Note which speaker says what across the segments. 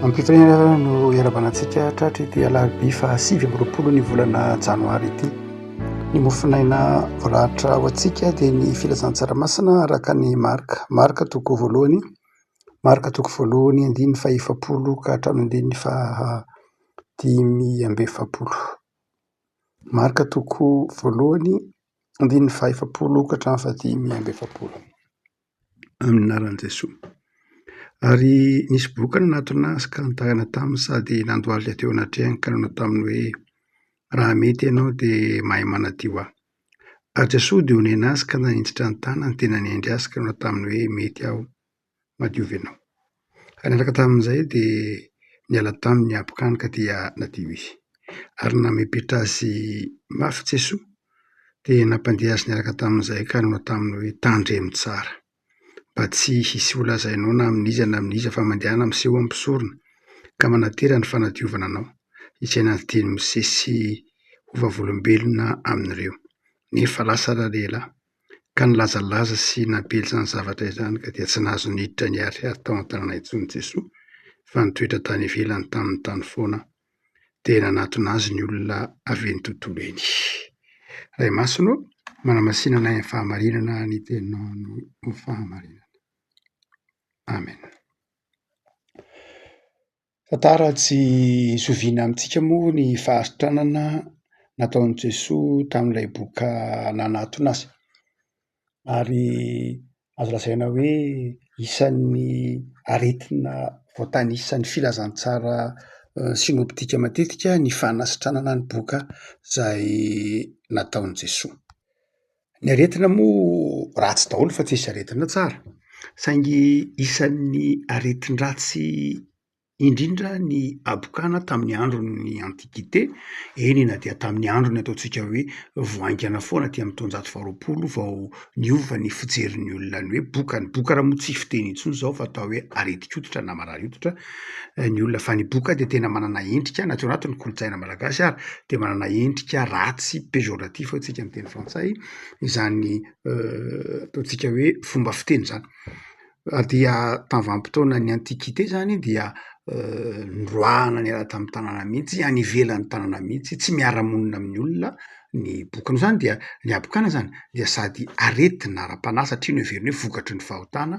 Speaker 1: Ampitrin'ireo no iarabanantsika tratry ity alarobia faha sivy amby roapolo ny volana janoary ity. Ny mofonaina voaratra ho antsika dia ny filazan'ny tsaramasina araka ny marika. Marika toko voalohany, marika toko voalohany andininy faha efapolo ka hatramin'ny andininy faha dimy amby efapolo. Marika toko voalohany andininy faha efapolo ka hatramin'ny faha dimy amby efapolo. amin'ny anaran'i Jesoa. Ary nisy boka nanatona azy ka nitahana taminy sady nandohalika teo anatrehany ka nanao taminy hoe, Raha mety ianao dia mahay manadio ahy. Ary Jesoa dia onena azy ka nanitsitra ny tanany dia nanendry azy ka nanao taminy hoe, Mety aho, madiovy anao. Niaraka tamin'izay dia niala taminy Abokanoka dia nadio izy. Ary namepetra azy mafy Jesoa dia nampandeha azy niaraka tamin'izay ka nanao taminy hoe, Tandremo tsara, mba tsy hisy ho lazainao na amin'iza na amin'iza fa mandehana miseho amin'ny mpisorona, ka manantena ny fanadiovana anao, izay nandidian'i Mosesy ho vavolombelona amin'ireo. Nefa lasa ralehilahy. Ka nilazalaza sy nampely izany zavatra izany ka dia tsy nahazo niditra niharihary tao an-tanana intsony Jesoa fa nitoetra tany ivelany taminy tany foana dia nanatona Azy ny olona avy eny tontolo eny. Ray Masina ô, manamasinana ahy amin'ny fahamarinana ny Teninao no fahamarinana. Amen. Tantara tsy zoviana amintsika moa ny fahantrana nataon'i Jesoa tamin'ilay boka nanatona azy. Ary azo lazaina hoe isan'ny aretina voatanisan'ny filazantsara sinoptika matetika ny fanasitranana ny boka izay nataon'i Jesoa. Ny aretina moa ratsy daholo fa tsisy aretina tsara. Saingy isan'ny aretin-dratsy indrindra ny habokana tamin'ny andron'ny antiquite, eny na dia tamin'ny andron'ny ataontsika hoe vao haingana foana aty amin'ny taonjato faharoapolo vao niova ny fijerin'ny olona ny hoe bokany. Bokana moa tsy fiteny intsony izao fa atao hoe aretin-koditra na marary hoditra. ny olona fa ny boky dia tena manana endrika na tsy ao anatin'ny kolontsaina malagasy ary dia manana endrika ratsy péjoratif hoy isika ny teny frantsay izany ataontsika hoe fomba fiteny izany dia tamin'ny vanim-potoanan'ny antiquite izany dia noroahana niala tamin'ny tanàna mihitsy any ivelan'ny tanàna mihitsy tsy miara-monina amin'ny olona ny boky noho izany dia ny habokana izany dia sady aretina ara-panahy satria noheverina hoe vokatry ny fahotana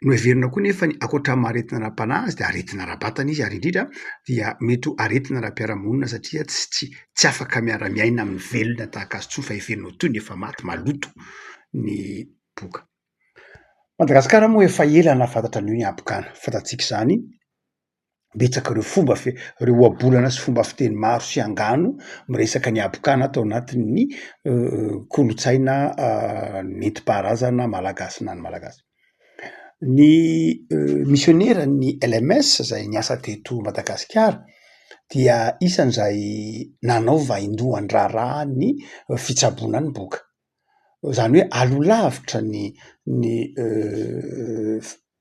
Speaker 1: Noheverina koa nefa ny ankoatra amin'ny maha-aretina ara-panahy azy dia aretina ara-batana izy ary indrindra dia mety ho aretina ara-piarahamonina satria tsy tsy tsy afaka miara-miaina amin'ny velona tahaka azy intsony fa heverina ho toy ny efa maty, maloto ny boka. Madagasikara moa efa ela nahafantatra an'io ny habokana, fantatsika izany betsaka reo fomba fe- reo ohabolana sy fomba fiteny maro sy angano miresaka ny habokana ato anatin'ny kolontsaina nentim-paharazana malagasy na ny malagasy. Ny misioneran'ny LMS zay niasa teto Madagasikara dia isan'izay nanao vaindohan-draharaha ny fitsaboana ny boka, zany hoe alo lavitra ny ny.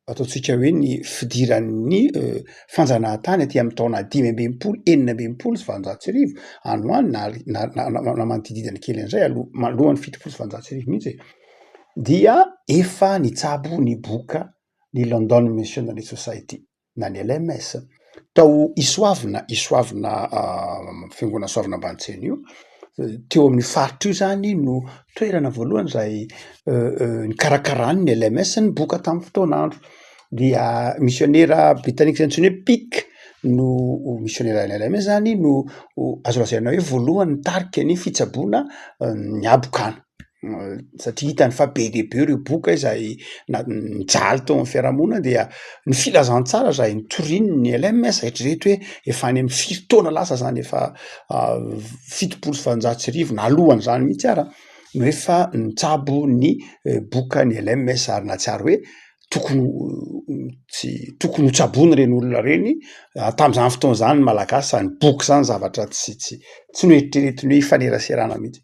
Speaker 1: ataontsika hoe ny fidiran'ny fanjanahantany aty amin'ny taona dimy ambin'ny folo enina ambin'ny folo sy valonjato sy arivo any ho any na na na na manodidididana kely an'izay aloha manoloan'ny fitopolo sy valonjato sy arivo mihitsy e dia efa nitsabo ny boka ny London Missionary Society na ny LMS. Tao Isoavina, Isoavina fiangonana Soavina Ambanitsieny io, teo amin'io faritra io izany no toerana voalohany izay nikarakarany ny LMS ny boka tamin'ny fotoan'andro. Dia misionera britanika izay antsoina hoe Pick no misionera any LMS izany no azo lazaina hoe voalohany nitarika ny fitsaboana ny habokana. satria hitany fa be dia be ireo boka izay na- nijaly teo amin'ny fiarahamonina dia ny filazantsara izay notoriany ny LMS hatreto hoe efa any amin'ny firy taona lasa izany efa fitopolo sy valonjato sy arivo na alohan'izany mihitsy ara no efa nitsabo ny boka ny LMS ary nahatsiaro hoe tokony tsy tokony ho tsaboina ireny olona ireny ary tamin'izany fotoana izany ny Malagasy izany boky izany zavatra tsy tsy tsy noeritreretiny hoe hifaneraserana mihitsy.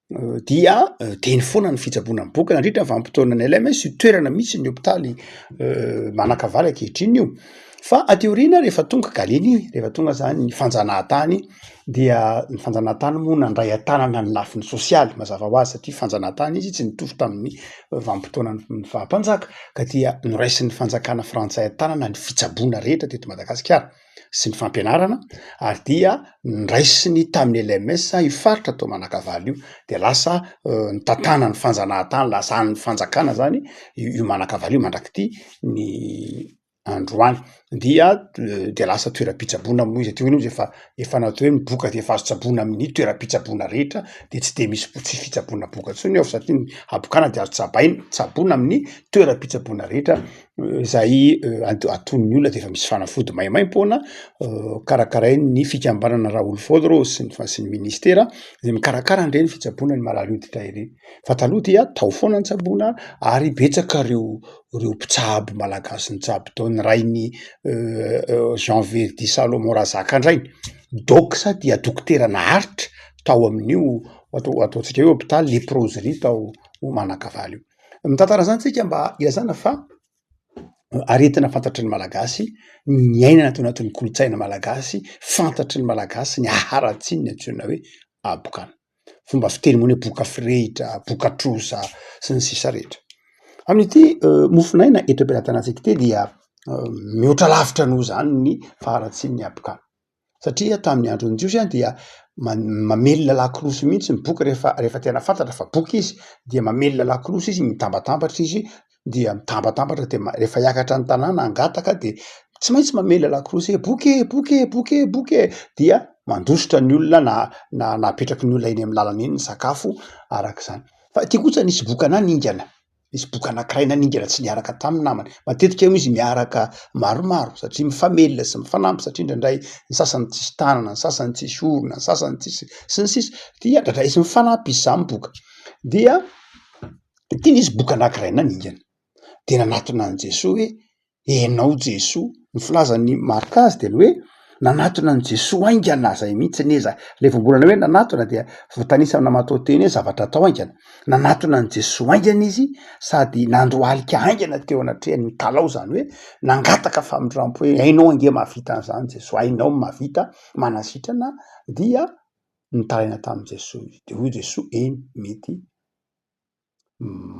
Speaker 1: dia teny foana ny fitsaboana miboaka nandritra ny vanim-potoanan'ny LMS, io toerana mihitsy ny hopitaly manakavalo ankehitriny io. Fa aty aoriana rehefa tonga Galena iny, rehefa tonga zany ny fanjanahantany, dia ny fanjanahantany moa nandray an-tanana ny lafiny sosialy, mazava ho azy satria fanjanahantany izy, tsy nitovy tamin'ny vanim-potoanan'ny faha-mpanjaka, ka dia noraisin'ny fanjakana frantsay an-tanana ny fitsaboana rehetra teto Madagasikara. sy ny fampianarana ary dia nraisiny tamin'ny LMS io faritra tao Manakavalo io dia lasa nitantanany fanjanahantany lasa any fanjakana zany io Manakavalo io mandrak'ity ny androany dia dia lasa toeram-pitsaboana moa izy aty hoy aho izy efa efa natao hoe miboka dia efa azo tsaboina amin'ny toeram-pitsaboana rehetra dia tsy dia misy tsy fitsaboana boka intsony ao satria ny habokana dia azo tsabaina tsaboina amin'ny toeram-pitsaboana rehetra Zay aton'ny olona dia efa misy fanafody maimaim-poana karakarain'ny fikambanana Raolfod Rose sy ny fa- sy ny ministera izay mikarakara an'ireny fitsaboana ny marary hoditra ireny. Fa taloha dia tao foana ny tsaboana ary betsaka ireo ireo mpitsabo malagasy nitsabo tao, ny rain'i Jean Verdi Salomon Razakandriaina, doc dia dokotera naharitra tao amin'io atao ataontsika hoe hopitaly Leproserie tao Manakavalo io. Mitantara an'izany tsika mba ilazana fa aretina fantatry ny Malagasy ny niainana tao anatin'ny kolontsaina malagasy, fantatry ny Malagasy ny haratsiny ny antsoina hoe habokana. Fomba fiteny moa ny hoe boka firehitra, boka trosa sy ny sisa rehetra. Amin'ity mofonaina eto am-pelatanantsika ity dia mihoatra lavitra noho izany ny faharatsian'ny habokana. Satria tamin'ny andron'ny Jiosy dia mamelona lakolosy mihitsy ny boky rehefa rehefa tena fantatra fa boky izy dia mamelona lakolosy izy mitambatambatra izy dia mitambatambatra dia rehefa hiakatra ny tanàna hangataka dia tsy maintsy mamelona lakolosy hoe boky e! boky e! boky e! boky e! dia mandositra ny olona na na na apetraky ny olona eny amin'ny lalana eny ny sakafo araka izany fa aty kosa nisy boky anah ningana Nisy boky anankiray naningana tsy niaraka tamin'ny namany. Matetika moa izy miaraka maromaro satria mifamelona sy mifanampy satria indraindray ny sasany tsisy tanana, ny sasany tsisy orona, ny sasany tsisy sy ny sisa dia indraindray izy mifanampy izy samy boka. Dia ity nisy boky anankiray naningana dia nanatona an'i Jesoa hoe Enao Jesoa, ny filazan'i Marc azy dia ny hoe nanatona an'i Jesoa haingana aza i mihitsy anie za, le vao mbola hoe nanatona dia voatanisa amina matoanteny hoe zavatra atao haingana, nanatona an'i Jesoa haingana izy sady nandohalika haingana teo anatrehany mitalaho zany hoe nangataka famindrampo hoe hainao ange mahavita an'izany Jesoa, hainao ny mahavita, manasitrana dia nitaraina tamin'i Jesoa izy, dia hoy Jesoa eny mety.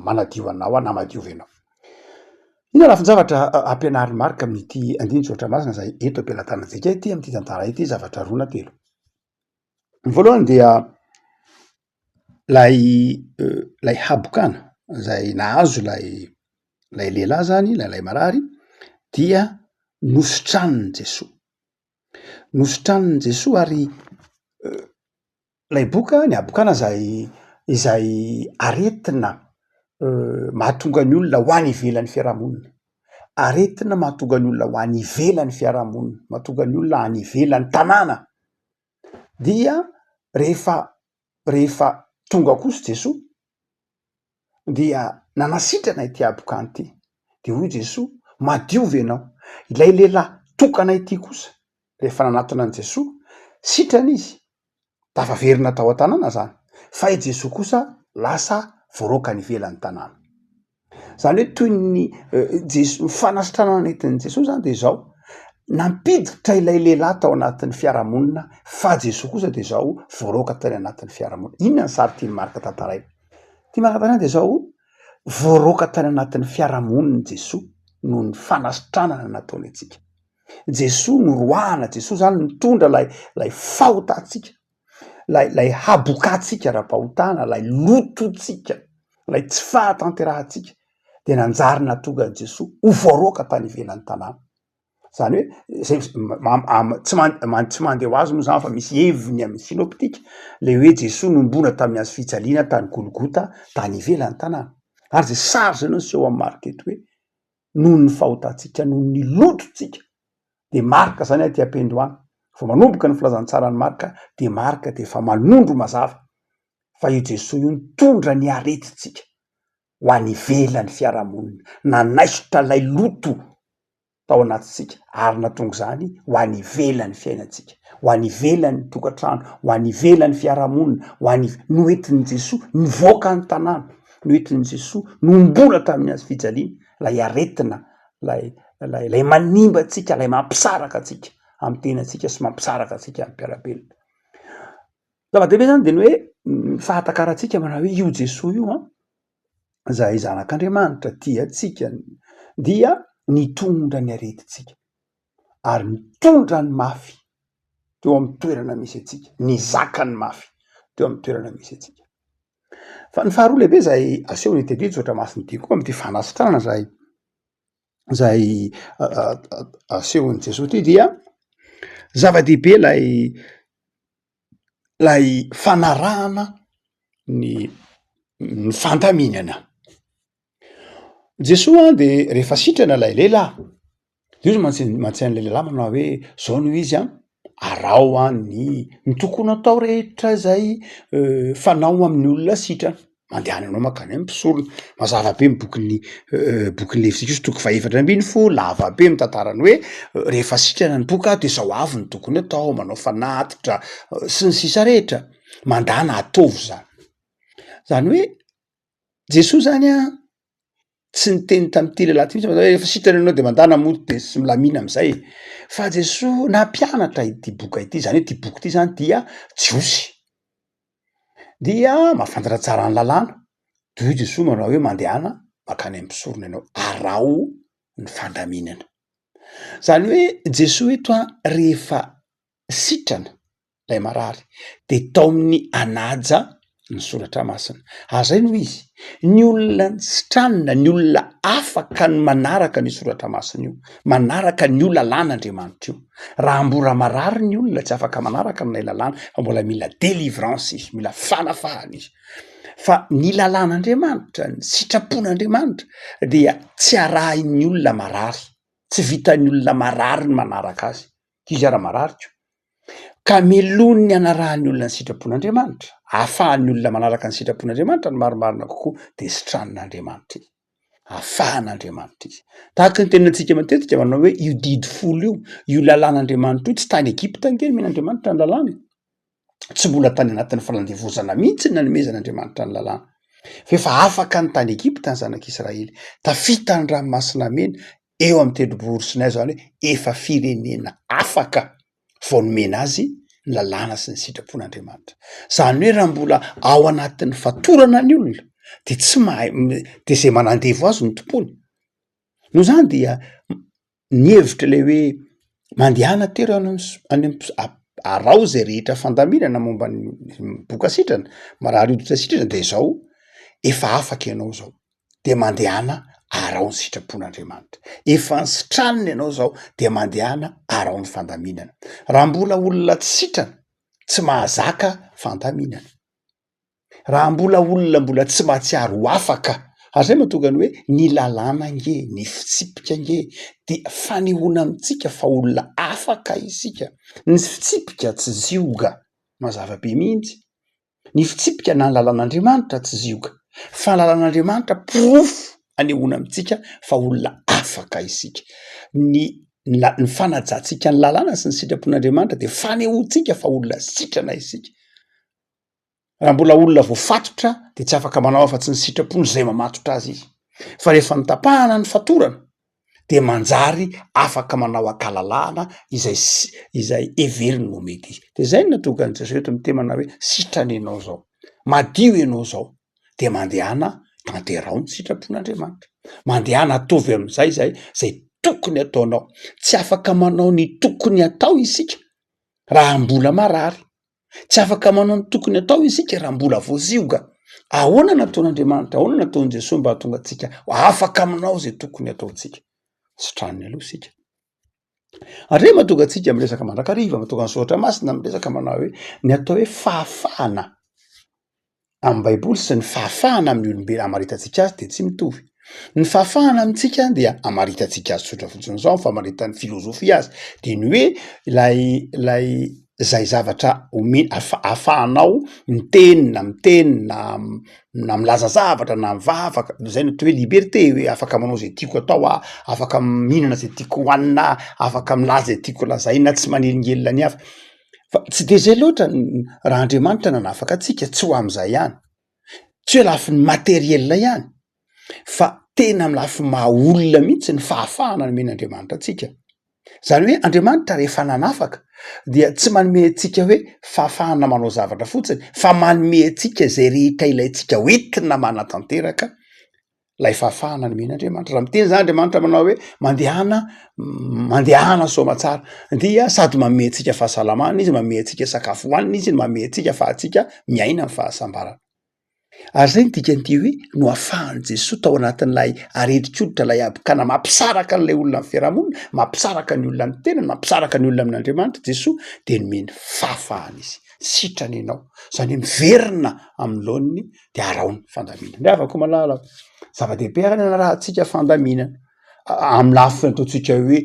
Speaker 1: manadio anao aho na madiovy anao. Inona lafin-javatra ampianarin'i Marka amin'ity andinin-tsoratra masina izay eto am-pelatanantsika ity amin'ity tantara ity? Zavatra roa na telo. Ny voalohany dia lay lay habokana izay nahazo lay lay lehilahy zany lay lay marary dia nositraniny Jesoa, nositraniny Jesoa ary Ilay boka, Ny habokana izay izay aretina mahatonga ny olona ho any ivelan'ny fiarahamonina. Aretina mahatonga ny olona ho any ivelan'ny fiarahamonina, mahatonga ny olona any ivelan'ny tanàna. Dia rehefa rehefa tonga kosa Jesoa dia nanasitrana ity habokany ity. Dia hoy Jesoa, madio ve ianao? Ilay lehilahy tokana ity kosa, rehefa nanatona an'i Jesoa, sitrana izy, dia afa verina tao an-tanàna izany. Fa i Jesoa kosa lasa voaroaka any ivelan'ny tanàna. Izany hoe toy ny Jesoa, ny fanasitranana nentin'i Jesoa izany dia izao, nampiditra ilay lehilahy tao anatin'ny fiarahamonina, fa Jesoa kosa dia izao voaroaka tany anatin'ny fiarahamonina. Inona ny sary tian'i Marka tantaraina? Ity maraina dia izao, voaroaka tany anatin'ny fiarahamonin'i Jesoa noho ny fanasitranana nataony antsika. Jesoa noroahana, Jesoa izany nitondra ilay ilay fahotantsika, ilay ilay habokantsika ara-pahotana, ilay lotontsika, ilay tsy fahatanterahantsika dia nanjary nahatonga an'i Jesoa ho voaroaka tany ivelan'ny tanàna. Zany hoe zay tsy man- tsy mandeha ho azy moa zany fa misy heviny amin'ny synoptika le hoe Jesoa nohomboana tamin'ny hazo fijaliana tany Golgota tany ivelan'ny tanàna, ary zay sary zay no niseho amin'ny marika eto hoe noho ny fahotantsika noho ny lotontsika de marika zany aty am-pendohana, vao manomboka ny filazantsaran'i Marka de marika de efa manondro mazava fa io Jesoa io nitondra ny aretintsika. ho any ivelan'ny fiarahamonina. Nanaisotra ilay loto tao anatintsika ary natonga izany ho any ivelan'ny fiainantsika, ho any ivelan'ny tokantrano, ho any ivelan'ny fiarahamonina, ho any iv-. Noentin'i Jesoa nivoaka ny tanàna, noentin'i Jesoa nomboana tamin'ny hazo fijaliana ilay aretina, ilay, ilay, ilay manimba antsika, ilay mampisaraka antsika amin'ny tenantsika sy mampisaraka antsika amin'ny mpiara-belona. Zava-dehibe zany dia ny hoe ny fahatakarantsika manao hoe io Jesoa io an, izahay zanak'Andriamanitra tia antsika dia nitondra ny aretintsika ary nitondra ny mafy teo amin'ny toerana misy antsika, nizaka ny mafy teo amin'ny toerana misy antsika. Fa ny faharoa lehibe izay asehon'ny tedi tsy ohatra masin'ny dia koa amin'ity fanasitranana izay izay asehon'i Jesoa ity dia zava-dehibe ilay ilay fanarahana ny ny fandaminana. Jesoa dia rehefa sitrana ilay lehilahy dia izy mantsy no mantsy an'ilay lehilahy manao hoe zao no izy an, araho an ny ny tokony atao rehetra izay fanao amin'ny olona sitrana. mandehana anao maka any mpisorona mazava be ny bokin'ny bokin'ny levitikosy toko fahefatra ambin'ny folo lava be mitantara ny hoe rehefa sitrana ny boka de zao avy ny tokony atao manao fanatitra sy ny sisa rehetra mandana ataovy zany zany hoe jesoa zany an tsy niteny tamin'ity lehilahy ity mihitsy fa hoe efa sitrana ianao dia mandàna mody dia tsy milamina am'zay e fa jesoa nampianatra ity boka ity zany hoe ity boky ity zany dia jiosy dia mahafantatra tsara ny lalàna de hoy jesoa manao hoe mandehana mankany amin'ny mpisorona ianao araho ny fandaminana zany hoe jesoa eto a rehefa sitrana ilay marary dia tao amin'ny hanaja ny soratra masina. Ary izay no izy, ny olona sitranina, ny olona afaka ny manaraka ny soratra masina io, manaraka ny io lalàn'Andriamanitra io. Raha mbola marary ny olona, tsy afaka manaraka an'ilay lalàna, fa mbola mila délivrance izy, mila fanafahana izy. Fa ny lalàn'Andriamanitra, ny sitrapon'Andriamanitra dia tsy arahin'ny olona marary, tsy vitan'ny olona marary ny manaraka azy. ankizy ara-marariko ka melohin'ny ny hanarahan'ny olona ny sitrapon'Andriamanitra, ahafahan'ny olona manaraka ny sitrapon'Andriamanitra ny marimarina kokoa dia sitran'Andriamanitra izy, ahafahan'Andriamanitra izy. Tahaka ny tenantsika matetika manao hoe io didy folo io, io lalàn'Andriamanitra io, tsy tany Egypta ange no omen'Andriamanitra ny lalàny. tsy mbola tany anatin'ny falandevozana mihitsy ny nanomezan'Andriamanitra ny lalàna, fa efa afaka ny tany Egypta ny zanak'Israely, tafita ny ranomasina mena eo amin'ny tendrombohiro Sinay, izany hoe efa firenena afaka vao nomena azy ny lalàna sy ny sitrapon'Andriamanitra. Izany hoe raha mbola ao anatin'ny fatorana ny olona dia tsy mahay dia izay manandevo azy no tompony. Noho izany dia ny hevitra ilay hoe mandehana tery any am so- any am-po- a- araho izay rehetra fandaminana momba ny boka sitrana, marary hoditra sitrana dia izao, efa afaka ianao izao dia mandehana araho ny sitrapon'Andriamanitra, efa nisitràniny ianao izao dia mandehana araho ny fandaminana, raha mbola olona tsy sitrana, tsy mahazaka fandaminana. Raha mbola olona mbola tsy mahatsiaro ho afaka, ary izay mahatonga ny hoe ny lalàna ange, ny fitsipika ange dia fanehoana amintsika fa olona afaka isika. Ny fitsipika tsy zioga, mazava be mihitsy. Ny fitsipika na ny lalàn'Andriamanitra tsy zioga, fa ny lalàn'Andriamanitra porofo anehoana amintsika fa olona afaka isika. Ny la- ny fanajantsika ny lalàna sy ny sitrapon'Andriamanitra dia fanehoantsika fa olona sitrana isika. Raha mbola olona voafatotra dia tsy afaka manao afa-tsy ny sitrapon'ny izay mamatotra azy izy. Fa rehefa notapahana ny fatorana dia manjary afaka manao an-kalalahana izay izay heveriny ho mety izy. Dia izay no natokan'i Jesoa eto amin'ny temana hoe sitrana ianao izao. Madio ianao izao dia mandehana tanteraho ny sitrapon'Andriamanitra. Mandehana atovy amin'izay izay izay tokony ataonao. Tsy afaka manao ny tokony atao isika raha mbola marary. Tsy afaka manao ny tokony atao isika raha mbola voazioga. Ahoana no nataon'Andriamanitra, ahoana no nataon'i Jesoa mba hahatonga antsika afaka manao izay tokony hataontsika? Sitrany aloha isika. Ary mba tonga antsika miresaka mandrakariva, mba tonga ny Soratra Masina miresaka manao hoe ny atao hoe fahafahana amin'ny Baiboly sy ny fahafahana amin'ny olombelona hamaritantsika azy dia tsy mitovy. Ny fahafahana amintsika dia hamaritantsika azy tsotra fotsiny zao ny famaritan'ny filozofia azy de ny hoe lay lay zay zavatra ome- afa- ahafahanao miteny na miteny na na milaza zavatra na mivavaka de zay no atao hoe liberté hoe afaka manao zay tiako atao aho, afaka mihinana zay tiako hohanina aho, afaka milaza zay tiako lazaina aho tsy manelingelina ny hafa. fa tsy de zay loatra ny raha Andriamanitra nanafaka antsika tsy ho amin'izay ihany tsy hoe lafiny matériel ihany fa tena amin'ny lafiny maha olona mihitsy ny fahafahana nomen'Andriamanitra antsika zany hoe Andriamanitra rehefa nanafaka dia tsy manome antsika hoe fahafahana manao zavatra fotsiny fa manome antsika izay rehetra ilaintsika ho entina manatanteraka lay fahafahana nomena Andriamanitra. Raha miteny zany Andriamanitra manao hoe mandehana mandehana soa aman-tsara dia sady manome antsika fahasalamana izy, manome antsika sakafo hohanina izy, manome antsika afahantsika miaina ny fahasambarana. Ary zay ny dikan'ity hoe no afahan'i Jesoa tao anatin'ilay aretin-koditra ilay habokana mampisaraka an'ilay olona amin'ny fiarahamonina, mampisaraka ny olona amin'ny tenany, mampisaraka ny olona amin'Andriamanitra Jesoa dia nomeny fahafahana izy. Sitrana ianao. Zany hoe miverina amin'ny laoniny de araho ny fandaminana ry havako malala zava-dehibe ary ny anarahantsika fandaminana amy lafiny ataontsika hoe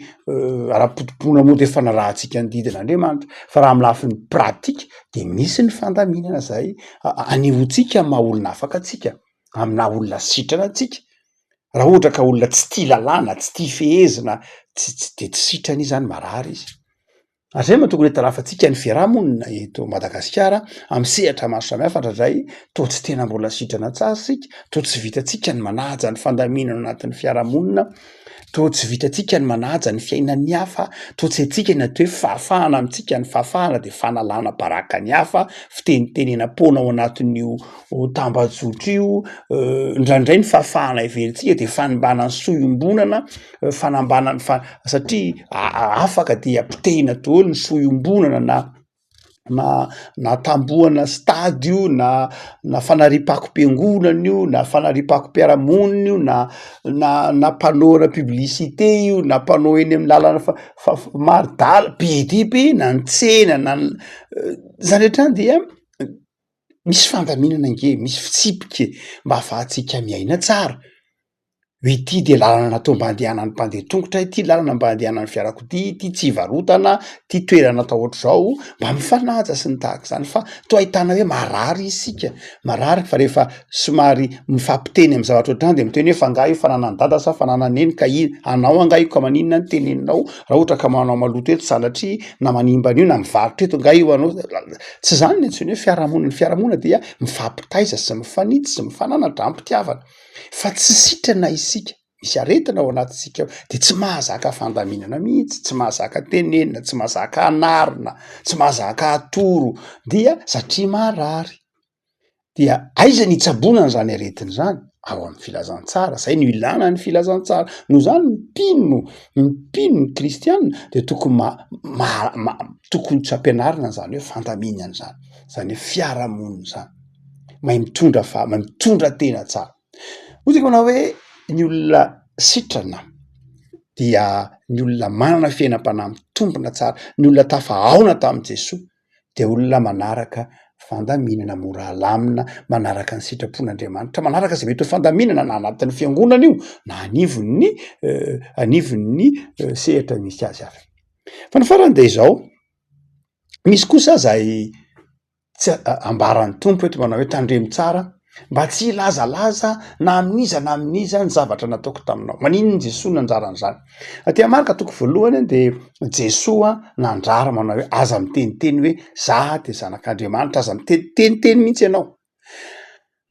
Speaker 1: ara-potopoana moa de fanarahantsika ny didin'Andriamanitra fa raha amy lafiny pratika de misy ny fandaminana zay anehoantsika maha olona afaka antsika amy naha olona sitrana antsika raha ohatra ka olona tsy tia lalàna tsy tia fehezina tsy tsy de tsy sitrana izy zany marary izy Hatrizay moa tokony hitarafantsika ny fiarahamonina eto Madagasikara amin'ny sehatra maro samihafa indraindray toa tsy tena mbola sitrana tsara isika, toa tsy vitantsika ny manaja ny fandaminana ao anatin'ny fiarahamonina, toa tsy vitantsika ny manaja ny fiainan'ny hafa, toa tsy haintsika ny atao hoe fahafahana amintsika, ny fahafahana dia fanalana baraka ny hafa, fitenitenenam-poana ao anatin'io tambajotra io, indraindray ny fahafahana heverintsika dia fanimbana ny soa iombonana. fanambanany fa satria afaka dia potehina doly ny fo iombonana na na na tambohana stade io na na fanariam-pakom-piangonana io na fanariam-pakom-piarahamonina io na na na panneau ana publicite io na panneau eny amin'ny lalana fa fa maridala be dia be na ny tsena na ny zany hatrany dia misy fandaminana ange misy fitsipika e mba afahantsika miaina tsara Ity dia lalana atao mba andehanan'ny mpandeha an-tongotra ity, lalana mba andehanan'ny fiarakodia ity, tsy hivarotana, ity toerana atao ohatr'izao mba mifanaja sy ny tahaka izany fa toa ahitana hoe marary isika, marary fa rehefa somary mifampiteny amin'ny zavatra ohatrany dia miteny hoe fa angaha io fananan'i dada sa fananan'i neny ka iny, anao angaha io ka maninona no teneninao raha ohatra ka manao maloto eto sanatria na manimba an'io na mivarotra eto angaha io anao, tsy izany no antsoina hoe fiarahamonina, ny fiarahamonina dia mifampitaiza sy mifanitsy sy mifananatra, am-pitiavana. fa tsy sitrana isika, misy aretina ao anatintsika ao dia tsy mahazaka fandaminana mihitsy, tsy mahazaka tenenina, tsy mahazaka anarina, tsy mahazaka atoro dia satria marary, dia aiza ny itsaboana an'izany aretina izany? Ao amin'ny filazantsara, izay no ilana ny filazantsara, noho izany ny mpino, ny mpino, ny kristiana dia tokony ma- ma- ma- tokony tsy ampianarina an'izany hoe fandaminana izany, izany hoe fiarahamonina izany. mahay mitondra fa- mahay mitondra tena tsara. Hoy isika manao hoe ny olona sitrana dia ny olona manana fiainam-panahy mitombina tsara, ny olona tafahaona tamin'i Jesoa dia olona manaraka fandaminana mora alamina, manaraka ny sitrapon'Andriamanitra, manaraka izay mety ho fandaminana na anatin'ny fiangonana io na anivon'ny anivon'ny sehatra misy azy hafa. Fa ny farany dia izao, misy kosa zay. Tsy a- ambaran'ny Tompo eto manao hoe, Tandremo tsara mba tsy hilazalaza na amin'iza na amin'iza ny zavatra nataoko taminao. Maninona Jesoa no nanjara an'izany? Aty Marka toko voalohany dia Jesoa nandrara manao hoe, Aza miteniteny hoe, Za dia Zanak'Andriamanitra, aza miteniteny mihitsy ianao.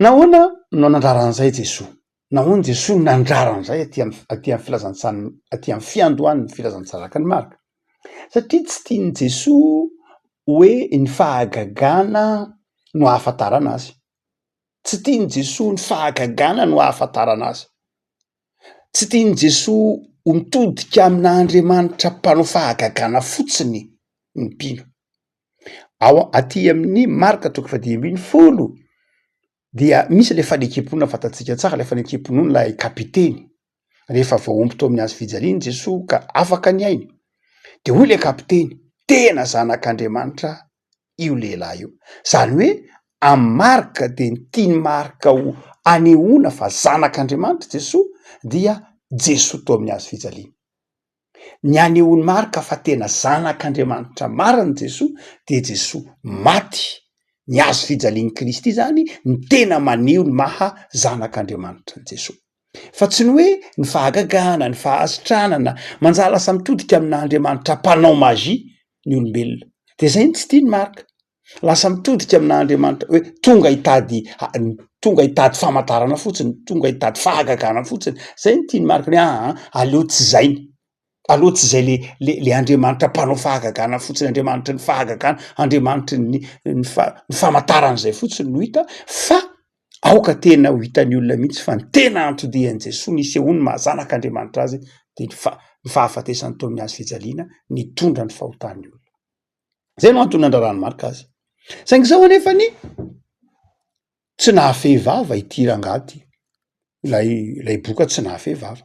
Speaker 1: Nahoana no nandrara an'izay Jesoa? Nahoana Jesoa no nandrara an'izay aty amin'ny aty amin'ny filazantsan'ny aty amin'ny fiandohan'ny filazantsarak'i Marka? Satria tsy tian'i Jesoa hoe ny fahagagana no ahafantarana Azy. Tsy tian'i Jesoa ny fahagagana no ahafantarana Azy. Tsy tian'i Jesoa ho mitodika amina Andriamanitra mpanao fahagagana fotsiny ny mpino. Ao aty amin'ny Marka toko fahadimy ambin'ny folo Dia misy ilay fanekempona fantatsika tsara, ilay fanekempon'olon'ilay kapiteny rehefa voaomby tao amin'ny hazo fijaliana i Jesoa ka afaka ny ainy. Dia hoy ilay kapiteny, tena zanak'Andriamanitra io lehilahy io. Izany hoe amin'i Marka dia ny tian'i Marka ho anehoana fa zanak'Andriamanitra i Jesoa dia Jesoa tao amin'ny hazo fijaliana. Ny hanehoan'i Marka fa tena Zanak'Andriamanitra marina Jesoa dia Jesoa maty. Ny hazo fijalian'i Kristy izany no tena maneho ny maha Zanak'Andriamanitra an'i Jesoa. Fa tsy ny hoe ny fahagagana, ny fahasitranana, manjary lasa mitodika amin'Andriamanitra mpanao magie ny olombelona. Dia izay no tsy tian'i Marka. Lasa mitodika aminà andriamanitra hoe tonga hitady tonga hitady famantarana fotsiny, tonga hitady fahagagana fotsiny. Zay no tian'i Marc hoe aa aleo tsy zay ny aleo tsy zay le le le andriamanitra mpanao fahagagana fotsiny, andriamanitry ny fahagagana, andriamanitry ny ny fa- ny famantarana zay fotsiny no hita fa aoka tena ho hitan'ny olona mihitsy fa ny tena anton-dian'i Jesoa nisehoany maha zanak'Andriamanitra azy de ny fa- ny fahafatesan'ny taon'ny hazo fijaliana nitondra ny fahotan'ny olona. Zay no antony nandraran'i Marc azy. Saingy zao anefa ny tsy nahafehy vava ity rangahy ity. Ilay ilay boka tsy nahafehy vava.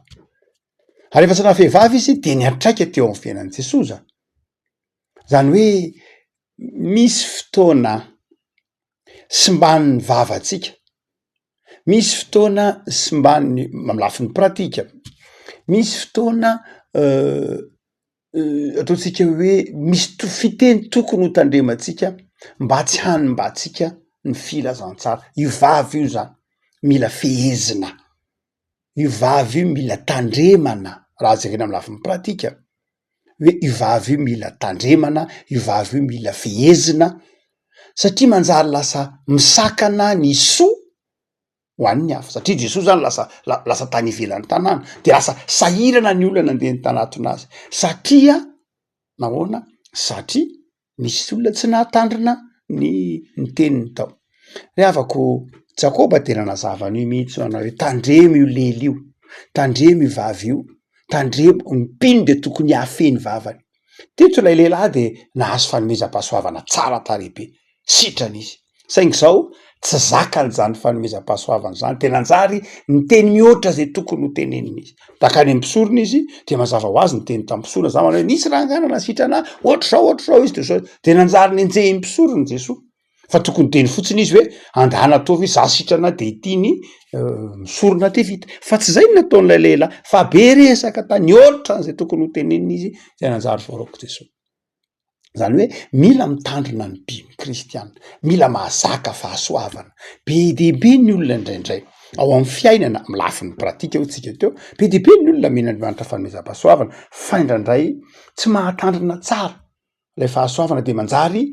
Speaker 1: Ary efa tsy nahafehy vava izy dia niantraika teo amin'ny fiainan'i Jesosa. Zany hoe misy fotoana simban'ny vavantsika. Misy fotoana simban'ny amin'ny lafiny pratika. Misy fotoana euh, ataontsika hoe misy to- fiteny tokony ho tandremantsika mba tsy hanimbantsika ny filazantsara, io vavy io zany mila fehezina, io vavy io mila tandremana raha jerena amin'ny lafiny pratika hoe io vavy io mila tandremana, io vavy io mila fehezina satria manjary lasa misakana ny soa. ho an'ny hafa satria Jesoa zany lasa lasa tany ivelan'ny tanàna de lasa sahirana ny olona nandeha ny tanatona azy satria nahoana satria misy olona tsy nahatandrina ny ny teniny tao ry havako Jakoba de nanazava an'io mihitsy anao hoe tandremo io lely io tandremo io vavy io tandremo ny mpino de tokony hahafehy ny vavany Teto ilay lehilahy dia nahazo fanomezam-pahasoavana tsara tarehy be. Sitrana izy. Saingy izao, tsy zakany izany fanomezam-pahasoavana izany, dia nanjary niteny mihoatra izay tokony hotenenina izy. Nankany amin'ny mpisorona izy, dia mazava ho azy niteny tamin'ny mpisorona izany manao hoe, Nisy rangahy nanasitrana ahy, hoatr'izao, hoatr'izao izy, dia nanjary nenjehin'ny mpisorona i Jesoa. fa tokony hiteny fotsiny izy hoe angaha natoa ve za sitrana de ity ny misorona de vita fa tsy zay no nataon'ilay lehilahy fa be resaka tany otran'izay tokony ho tenenina izy zay nanjary voaraok'i Jesoa zany hoe mila mitandrina ny mpino kristiana mila mahazaka fahasoavana be dia be ny olona indraindray ao amin'ny fiainana amin'ny lafiny pratika hoy tsika teo be dia be ny olona men'Andriamanitra fanomezam-pahasoavana fa indraindray tsy mahatandrina tsara ilay fahasoavana de manjary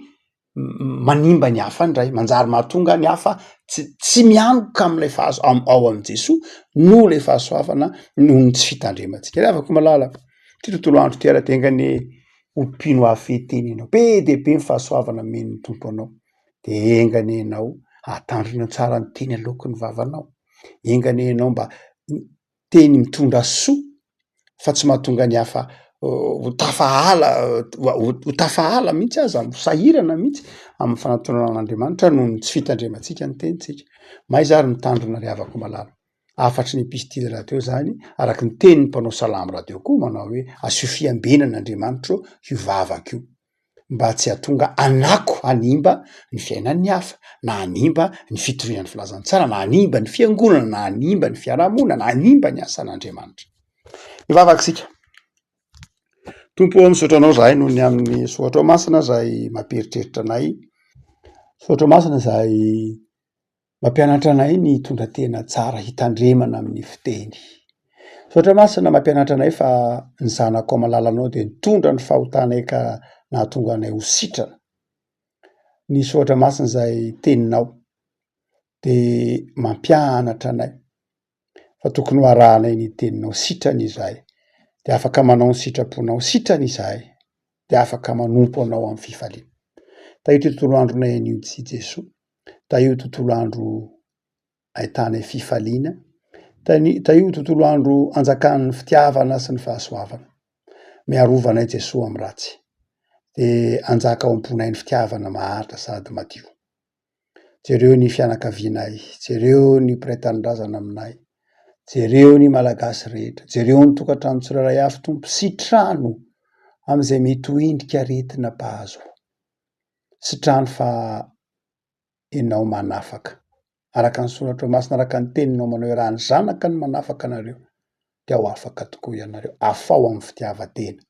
Speaker 1: manimba ny hafa indray, manjary mahatonga ny hafa tsy tsy mianoka amin'ilay fahazo ao amin'i Jesoa noho ilay fahasoavana noho ny tsy fitandremantsika. Ravako malala ity tontolo andro ity raha tenga ny ho mpino hahafehy tena ianao, be dia be ny fahasoavana omen'ny Tompo anao dia enga anie ianao hatandrina tsara ny teny aloaky ny vavanao, enga anie ianao mba teny mitondra soa fa tsy mahatonga ny hafa ho tafahala ho tafahala mihitsy aza ho sahirana mihitsy amin'ny fanatonana an'Andriamanitra noho ny tsy fitandremantsika ny tenintsika. Mahaiza ary mitandrina ry havako malala. Hafatry ny episitily rahateo izany araka ny tenin'ny mpanao salamo rahateo koa manao hoe asio fiambenana Andriamanitra ô io vavako io. mba tsy hahatonga hanako hanimba ny fiainan'ny hafa, na hanimba ny fitoriana ny filazantsara, na hanimba ny fiangonana, na hanimba ny fiarahamonina, na hanimba ny asan'Andriamanitra. Mivavaka isika. Tompo o, misaotra Anao izahay noho ny amin'ny soratrao masina izay mampieritreritra anay, soratrao masina izay Mampianatra anay ny hitondra tena tsara hitandremana amin'ny fiteny. Misaotra Masina mampianatra anay fa ny zanako amin'ny lalanao dia nitondra ny fahotanay ka nahatonga anay ho sitrana. Misaotra Masina izay teninao dia mampianatra anay. fa tokony ho arahanay ny teninao sitrany izahay dia afaka manao ny sitraponao sitrany izahay dia afaka manompo anao amin'ny fifaliana tahio ity tontolo andronay anio ity Jesoa tahio tontolo andro ahitanay fifaliana tahio tontolo andro anjakan'ny fitiavana sy ny fahasoavana miarovanay Jesoa amin'ny ratsy dia anjaka ao am-ponay ny fitiavana maharitra sady madio Jereo ny fianakavianay, jereo ny mpiray tanindrazana aminay, jereo ny Malagasy rehetra, jereo ny tokantrano tsirairay avy Tompo, sitrano amin'izay mety ho endrika aretina mpahazo ahy, sitrano fa Enao manafaka, araka ny soratrao masina, araka ny teninao manao hoe raha ny zanaka no manafaka anareo dia ho afaka tokoa ianareo, afaho amin'ny fitiavan-tena,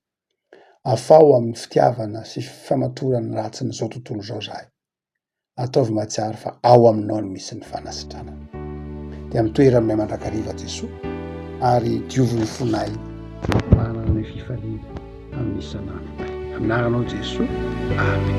Speaker 1: afaho amin'ny fitiavana sy famatoran'ny ratsin'izao tontolo izao izahay. Ataovy mahatsiaro fa ao aminao no misy ny fanasitranana. Dia amin'ny toeran'ilay mandrakariva Jesoa ary diovy ny fonay manana ny fifaliana amin'ny isan'andronay. Amin'anaranao Jesoa. Amen.